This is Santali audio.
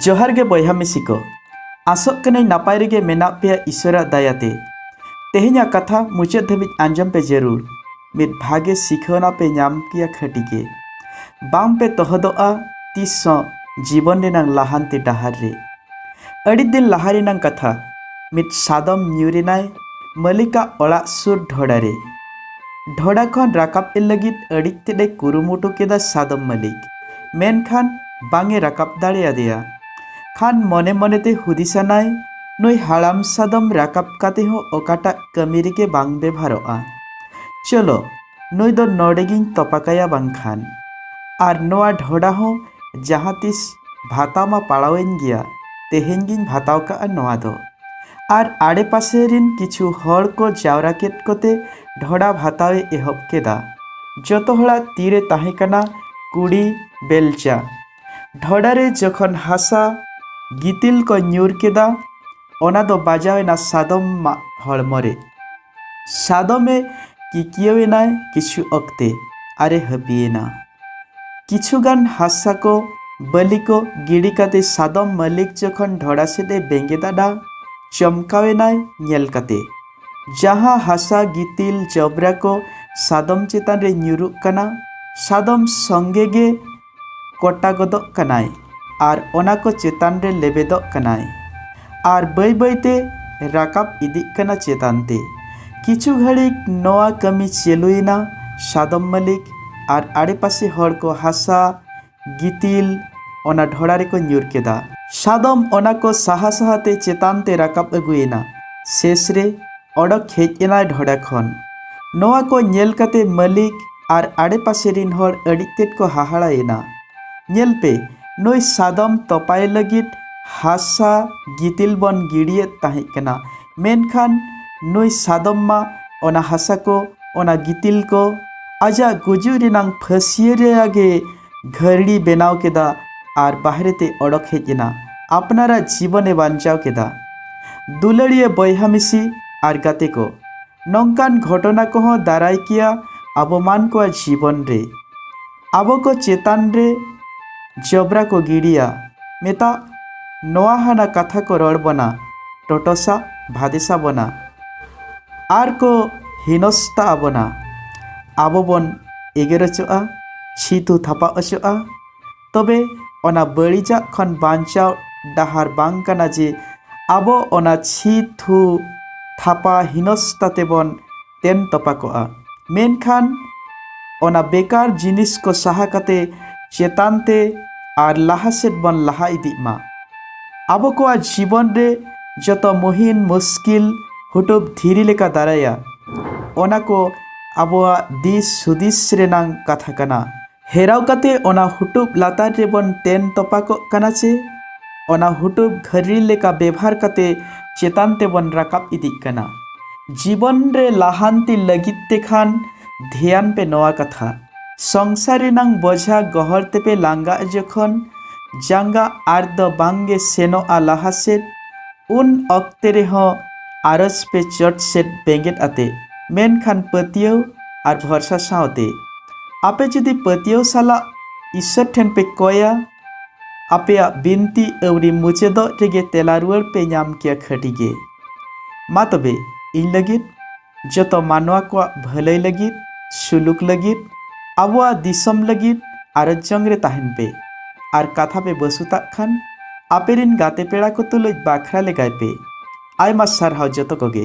ᱡᱚᱦᱟᱨ ᱜᱮ ᱵᱚᱭᱦᱟ ᱢᱤᱥᱤ ᱠᱚ ᱟᱥᱚᱜ ᱠᱟᱹᱱᱟᱹᱧ ᱱᱟᱯᱟᱭ ᱨᱮᱜᱮ ᱢᱮᱱᱟᱜ ᱯᱮᱭᱟ ᱤᱥᱚᱨᱟᱜ ᱫᱟᱭᱟᱛᱮ ᱛᱮᱦᱮᱧᱟᱜ ᱠᱟᱛᱷᱟ ᱢᱩᱪᱟᱹᱫ ᱫᱷᱟᱹᱵᱤᱡ ᱟᱸᱡᱚᱢ ᱯᱮ ᱡᱟᱹᱨᱩᱲ ᱢᱤᱫ ᱵᱷᱟᱜᱮ ᱥᱤᱠᱷᱟᱹᱣᱱᱟ ᱯᱮ ᱧᱟᱢ ᱠᱮᱭᱟ ᱠᱷᱟᱹᱴᱤ ᱜᱮ ᱵᱟᱝ ᱯᱮ ᱛᱚᱦᱚᱫᱚᱜᱼᱟ ᱛᱤᱥ ᱦᱚᱸ ᱡᱤᱵᱚᱱ ᱨᱮᱱᱟᱝ ᱞᱟᱦᱟᱱᱛᱤ ᱰᱟᱦᱟᱨ ᱨᱮ ᱟᱹᱰᱤ ᱫᱤᱱ ᱞᱟᱦᱟ ᱨᱮᱱᱟᱝ ᱠᱟᱛᱷᱟ ᱢᱤᱫ ᱥᱟᱫᱚᱢ ᱧᱩᱨᱮᱱᱟᱭ ᱢᱟᱹᱞᱤᱠᱟᱜ ᱚᱲᱟᱜ ᱥᱩᱨ ᱰᱷᱚᱲᱟ ᱨᱮ ᱰᱷᱚᱰᱟ ᱠᱷᱚᱱ ᱨᱟᱠᱟᱵ ᱮ ᱞᱟᱹᱜᱤᱫ ᱟᱹᱰᱤ ᱛᱮᱫ ᱮ ᱠᱩᱨᱩᱢᱩᱴᱩ ᱠᱮᱫᱟ ᱥᱟᱫᱚᱢ ᱢᱟᱹᱞᱤᱠ ᱢᱮᱱᱠᱷᱟᱱ ᱵᱟᱝ ᱮ ᱨᱟᱠᱟᱵ ᱫᱟᱲᱮᱭᱟᱫᱮᱭᱟ ᱠᱷᱟᱱ ᱢᱚᱱᱮ ᱢᱚᱱᱮ ᱛᱮ ᱦᱩᱫᱤᱥᱟᱱᱟᱭ ᱱᱩᱭ ᱦᱟᱲᱟᱢ ᱥᱟᱫᱚᱢ ᱨᱟᱠᱟᱵ ᱠᱟᱛᱮ ᱦᱚᱸ ᱚᱠᱟᱴᱟᱜ ᱠᱟᱹᱢᱤ ᱨᱮᱜᱮ ᱵᱟᱝ ᱵᱮᱵᱷᱟᱨᱚᱜᱼᱟ ᱪᱚᱞᱚ ᱱᱩᱭ ᱫᱚ ᱱᱚᱰᱮ ᱜᱤᱧ ᱛᱚᱯᱟ ᱠᱟᱭᱟ ᱵᱟᱝᱠᱷᱟᱱ ᱟᱨ ᱱᱚᱣᱟ ᱰᱷᱚᱰᱟ ᱦᱚᱸ ᱡᱟᱦᱟᱸ ᱛᱤᱥ ᱵᱷᱟᱛᱟᱣ ᱢᱟ ᱯᱟᱲᱟᱣ ᱟᱹᱧ ᱜᱮᱭᱟ ᱛᱮᱦᱮᱧ ᱜᱤᱧ ᱵᱷᱟᱛᱟᱣ ᱠᱟᱜᱼᱟ ᱱᱚᱣᱟ ᱫᱚ ᱟᱨ ᱟᱲᱮᱯᱟᱥᱮ ᱨᱤᱱ ᱠᱤᱪᱷᱩ ᱦᱚᱲ ᱠᱚ ᱡᱟᱣᱨᱟ ᱠᱮᱫ ᱠᱚᱛᱮ ᱰᱷᱚᱰᱟ ᱵᱷᱟᱛᱟᱣ ᱮ ᱮᱦᱚᱵ ᱠᱮᱫᱟ᱾ ᱡᱚᱛᱚ ᱦᱚᱲᱟᱜ ᱛᱤ ᱨᱮ ᱛᱟᱦᱮᱸ ᱠᱟᱱᱟ ᱠᱩᱲᱤ ᱵᱮᱞᱪᱟ᱾ ᱰᱷᱚᱰᱟ ᱨᱮ ᱡᱚᱠᱷᱚᱱ ᱦᱟᱥᱟ ᱜᱤᱛᱤᱞ ᱠᱚ ᱧᱩᱨ ᱠᱮᱫᱟ ᱚᱱᱟ ᱫᱚ ᱵᱟᱡᱟᱣ ᱮᱱᱟ ᱥᱟᱫᱚᱢ ᱢᱟᱜ ᱦᱚᱲᱢᱚ ᱨᱮ᱾ ᱥᱟᱫᱚᱢᱮ ᱠᱤᱠᱤᱭᱟᱹᱣᱮᱱᱟᱭ ᱠᱤᱪᱷᱩ ᱚᱠᱛᱮ ᱟᱨᱮ ᱦᱟᱹᱯᱤᱭᱮᱱᱟ ᱠᱤᱪᱷᱩ ᱜᱟᱱ ᱦᱟᱥᱟ ᱠᱚ ᱵᱟᱹᱞᱤ ᱠᱚ ᱜᱤᱰᱤ ᱠᱟᱛᱮ ᱥᱟᱫᱚᱢ ᱢᱟᱹᱞᱤᱠ ᱡᱚᱠᱷᱚᱱ ᱰᱷᱚᱲᱟ ᱥᱮᱫ ᱮ ᱵᱮᱸᱜᱮᱫ ᱟᱫᱟ ᱪᱚᱢᱠᱟᱣᱮᱱᱟᱭ ᱧᱮᱞ ᱠᱟᱛᱮ ᱡᱟᱦᱟᱸ ᱦᱟᱥᱟ ᱜᱤᱛᱤᱞ ᱡᱚᱵᱽᱨᱟ ᱠᱚ ᱥᱟᱫᱚᱢ ᱪᱮᱛᱟᱱ ᱨᱮ ᱧᱩᱨᱩᱜ ᱠᱟᱱᱟ ᱥᱟᱫᱚᱢ ᱥᱚᱸᱜᱮ ᱜᱮ ᱠᱚᱴᱟ ᱜᱚᱫᱚᱜ ᱠᱟᱱᱟᱭ ᱟᱨ ᱚᱱᱟ ᱠᱚ ᱪᱮᱛᱟᱱ ᱨᱮ ᱞᱮᱵᱮᱫᱚᱜ ᱠᱟᱱᱟᱭ ᱟᱨ ᱵᱟᱹᱭ ᱵᱟᱹᱭ ᱛᱮ ᱨᱟᱠᱟᱵ ᱤᱫᱤᱜ ᱠᱟᱱᱟ ᱪᱮᱛᱟᱱ ᱛᱮ᱾ ᱠᱤᱪᱷᱩ ᱜᱷᱟᱹᱲᱤᱠ ᱱᱚᱣᱟ ᱠᱟᱹᱢᱤ ᱪᱮᱞᱩᱭᱮᱱᱟ ᱥᱟᱫᱚᱢ ᱢᱟᱹᱞᱤᱠ ᱟᱨ ᱟᱲᱮ ᱯᱟᱥᱮ ᱦᱚᱲ ᱠᱚ ᱦᱟᱥᱟ, ᱜᱤᱛᱤᱞ ᱚᱱᱟ ᱰᱷᱚᱲᱟ ᱨᱮᱠᱚ ᱧᱩᱨ ᱠᱮᱫᱟ᱾ ᱥᱟᱫᱚᱢ ᱚᱱᱟ ᱠᱚ ᱥᱟᱦᱟ ᱥᱟᱦᱟ ᱛᱮ ᱪᱮᱛᱟᱱ ᱛᱮ ᱨᱟᱠᱟᱵ ᱟᱹᱜᱩᱭᱮᱱᱟ᱾ ᱥᱮᱥ ᱨᱮ ᱚᱰᱚᱠ ᱦᱮᱡ ᱮᱱᱟᱭ ᱰᱷᱚᱰᱟ ᱠᱷᱚᱱ᱾ ᱱᱚᱣᱟ ᱠᱚ ᱧᱮᱞ ᱠᱟᱛᱮ ᱢᱟᱹᱞᱤᱠ ᱟᱨ ᱟᱰᱮ ᱯᱟᱥᱮ ᱨᱤᱱ ᱦᱚᱲ ᱟᱹᱰᱤ ᱛᱮᱫ ᱠᱚ ᱦᱟᱦᱟᱲᱟ ᱮᱱᱟ᱾ ᱧᱮᱞ ᱯᱮ ᱱᱩᱭ ᱥᱟᱫᱚᱢ ᱛᱚᱯᱟᱭᱮ ᱞᱟᱹᱜᱤᱫ ᱦᱟᱥᱟ ᱜᱤᱛᱤᱞ ᱵᱚᱱ ᱜᱤᱰᱤᱭᱮᱫ ᱛᱟᱦᱮᱸᱫ ᱠᱟᱱᱟ, ᱢᱮᱱᱠᱷᱟᱱ ᱱᱩᱭ ᱥᱟᱫᱚᱢ ᱢᱟ ᱚᱱᱟ ᱦᱟᱥᱟ ᱠᱚ, ᱚᱱᱟ ᱜᱤᱛᱤᱞ ᱠᱚ ᱟᱡᱟᱜ ᱜᱩᱡᱩᱜ ᱨᱮᱱᱟᱜ ᱯᱷᱟᱹᱥᱤᱭᱟᱹ ᱨᱮᱭᱟᱜ ᱜᱮ ᱜᱷᱟᱹᱨᱲᱤ ᱵᱮᱱᱟᱣ ᱠᱮᱫᱟ ᱟᱨ ᱵᱟᱦᱨᱮ ᱛᱮ ᱚᱰᱚᱠ ᱦᱮᱡ ᱮᱱᱟ᱾ ᱟᱯᱱᱟᱨᱟᱜ ᱡᱤᱵᱚᱱ ᱮ ᱵᱟᱧᱪᱟᱣ ᱠᱮᱫᱟ᱾ ᱫᱩᱞᱟᱹᱲᱤᱭᱟᱹ ᱵᱚᱭᱦᱟ ᱢᱤᱥᱤ ᱟᱨ ᱜᱟᱛᱮ ᱠᱚ, ᱱᱚᱝᱠᱟᱱ ᱜᱷᱚᱴᱚᱱᱟ ᱠᱚ ᱦᱚᱸ ᱫᱟᱨᱟᱭ ᱠᱮᱭᱟ ᱟᱵᱚ ᱢᱟᱱ ᱠᱚᱣᱟᱜ ᱡᱤᱵᱚᱱ ᱨᱮ᱾ ᱟᱵᱚ ᱠᱚ ᱪᱮᱛᱟᱱ ᱨᱮ ᱡᱚᱵᱽᱨᱟ ᱠᱚ ᱜᱤᱰᱤᱭᱟ, ᱢᱮᱛᱟᱜ ᱱᱚᱣᱟ ᱦᱟᱱᱟ ᱠᱟᱛᱷᱟ ᱠᱚ ᱨᱚᱲ ᱵᱚᱱᱟ, ᱴᱚᱴᱚᱥᱟ ᱵᱷᱟᱫᱮᱥᱟ ᱵᱚᱱᱟ ᱟᱨ ᱠᱚ ᱦᱤᱱᱚᱥᱛᱟ ᱟᱵᱚᱱᱟ᱾ ᱟᱵᱚ ᱵᱚᱱ ᱮᱜᱮᱨ ᱚᱪᱚᱜᱼᱟ᱾ ᱪᱷᱤᱛᱩ ᱛᱷᱟᱯᱟ ᱚᱪᱚᱜᱼᱟ ᱛᱚᱵᱮ ᱚᱱᱟ ᱵᱟᱹᱲᱤᱡᱟᱜ ᱠᱷᱚᱱ ᱵᱟᱧᱪᱟᱣ ᱰᱟᱦᱟᱨ ᱵᱟᱝ ᱠᱟᱱᱟ ᱡᱮ ᱟᱵᱚ ᱚᱱᱟ ᱪᱷᱤᱛᱩ ᱛᱷᱟᱯᱟ ᱦᱤᱱᱚᱥᱛᱟ ᱛᱮᱵᱚᱱ ᱛᱮᱱ ᱛᱚᱯᱟ ᱠᱚᱜᱼᱟ ᱢᱮᱱᱠᱷᱟᱱ ᱚᱱᱟ ᱵᱮᱠᱟᱨ ᱡᱤᱱᱤᱥ ᱠᱚ ᱥᱟᱦᱟ ᱠᱟᱛᱮ ᱪᱮᱛᱟᱱ ᱛᱮ ᱟᱨ ᱞᱟᱦᱟ ᱥᱮᱫ ᱵᱚᱱ ᱞᱟᱦᱟ ᱤᱫᱤᱜ ᱢᱟ ᱟᱵᱚ ᱠᱚᱣᱟᱜ ᱡᱤᱵᱚᱱ ᱨᱮ ᱡᱚᱛᱚ ᱢᱩᱦᱤᱱ ᱢᱩᱥᱠᱤᱞ ᱦᱩᱴᱩᱵ ᱫᱷᱤᱨᱤ ᱞᱮᱠᱟ ᱫᱟᱨᱟᱭᱟ ᱚᱱᱟ ᱠᱚ ᱟᱵᱚᱣᱟᱜ ᱫᱤᱥ ᱦᱩᱫᱤᱥ ᱨᱮᱱᱟᱝ ᱠᱟᱛᱷᱟ ᱠᱟᱱᱟ᱾ ᱦᱮᱨᱟᱣ ᱠᱟᱛᱮ ᱚᱱᱟ ᱦᱩᱴᱩᱵ ᱞᱟᱛᱟᱨ ᱨᱮᱵᱚᱱ ᱛᱮᱱ ᱛᱚᱯᱟᱠᱚᱜ ᱠᱟᱱᱟ ᱪᱮ ᱚᱱᱟ ᱦᱩᱴᱩᱵ ᱜᱷᱟᱹᱨᱲᱤ ᱞᱮᱠᱟ ᱵᱮᱵᱷᱟᱨ ᱠᱟᱛᱮ ᱪᱮᱛᱟᱱ ᱛᱮᱵᱚᱱ ᱨᱟᱠᱟᱵ ᱤᱫᱤᱜ ᱠᱟᱱᱟ᱾ ᱡᱤᱵᱚᱱ ᱨᱮ ᱞᱟᱦᱟᱱᱛᱤ ᱞᱟᱹᱜᱤᱫ ᱛᱮ ᱠᱷᱟᱱ ᱫᱷᱮᱭᱟᱱ ᱯᱮ ᱱᱚᱣᱟ ᱠᱟᱛᱷᱟ᱾ ᱥᱚᱝᱥᱟᱨ ᱨᱮᱱᱟᱝ ᱵᱚᱡᱷᱟ ᱜᱚᱦᱚᱲ ᱛᱮᱯᱮ ᱞᱟᱸᱜᱟᱜ ᱡᱚᱠᱷᱚᱱ ᱡᱟᱸᱜᱟ ᱟᱨ ᱫᱚ ᱵᱟᱝ ᱜᱮ ᱥᱮᱱᱚᱜᱼᱟ ᱞᱟᱦᱟ ᱥᱮᱫ ᱩᱱ ᱚᱠᱛᱮ ᱨᱮᱦᱚᱸ ᱟᱨᱚᱡᱽ ᱯᱮ ᱪᱚᱴ ᱥᱮᱫ ᱵᱮᱸᱜᱮᱫ ᱟᱛᱮ᱾ ᱢᱮᱱᱠᱷᱟᱱ ᱯᱟᱹᱛᱭᱟᱹᱣ ᱟᱨ ᱵᱷᱚᱨᱥᱟ ᱥᱟᱶᱛᱮ ᱟᱯᱮ ᱡᱩᱫᱤ ᱯᱟᱹᱛᱭᱟᱹᱣ ᱥᱟᱞᱟᱜ ᱤᱥᱥᱚᱨ ᱴᱷᱮᱱ ᱯᱮ ᱠᱚᱭᱟ ᱟᱯᱮᱭᱟᱜ ᱵᱤᱱᱛᱤ ᱟᱹᱣᱨᱤ ᱢᱩᱪᱟᱹᱫᱚᱜ ᱨᱮᱜᱮ ᱛᱮᱞᱟ ᱨᱩᱣᱟᱹᱲ ᱯᱮ ᱧᱟᱢ ᱠᱮᱭᱟ ᱠᱷᱟᱹᱴᱤ ᱜᱮ ᱢᱟ ᱛᱚᱵᱮ ᱤᱧ ᱞᱟᱹᱜᱤᱫ ᱡᱚᱛᱚ ᱢᱟᱱᱣᱟ ᱠᱚᱣᱟᱜ ᱵᱷᱟᱹᱞᱟᱹᱭ ᱞᱟᱹᱜᱤᱫ ᱥᱩᱞᱩᱠ ᱞᱟᱹᱜᱤᱫ ᱟᱵᱚᱣᱟᱜ ᱫᱤᱥᱚᱢ ᱞᱟᱹᱜᱤᱫ ᱟᱨᱚᱡ ᱡᱚᱝ ᱨᱮ ᱛᱟᱦᱮᱱ ᱯᱮ ᱟᱨ ᱠᱟᱛᱷᱟ ᱯᱮ ᱵᱟᱹᱥᱩᱛᱟᱜ ᱠᱷᱟᱱ ᱟᱯᱮ ᱨᱤᱱ ᱜᱟᱛᱮ ᱯᱮᱲᱟ ᱠᱚ ᱛᱩᱞᱩᱡ ᱵᱟᱠᱷᱨᱟ ᱞᱮᱜᱟᱭ ᱯᱮ ᱟᱭᱢᱟ ᱥᱟᱨᱦᱟᱣ ᱡᱚᱛᱚ ᱠᱚᱜᱮ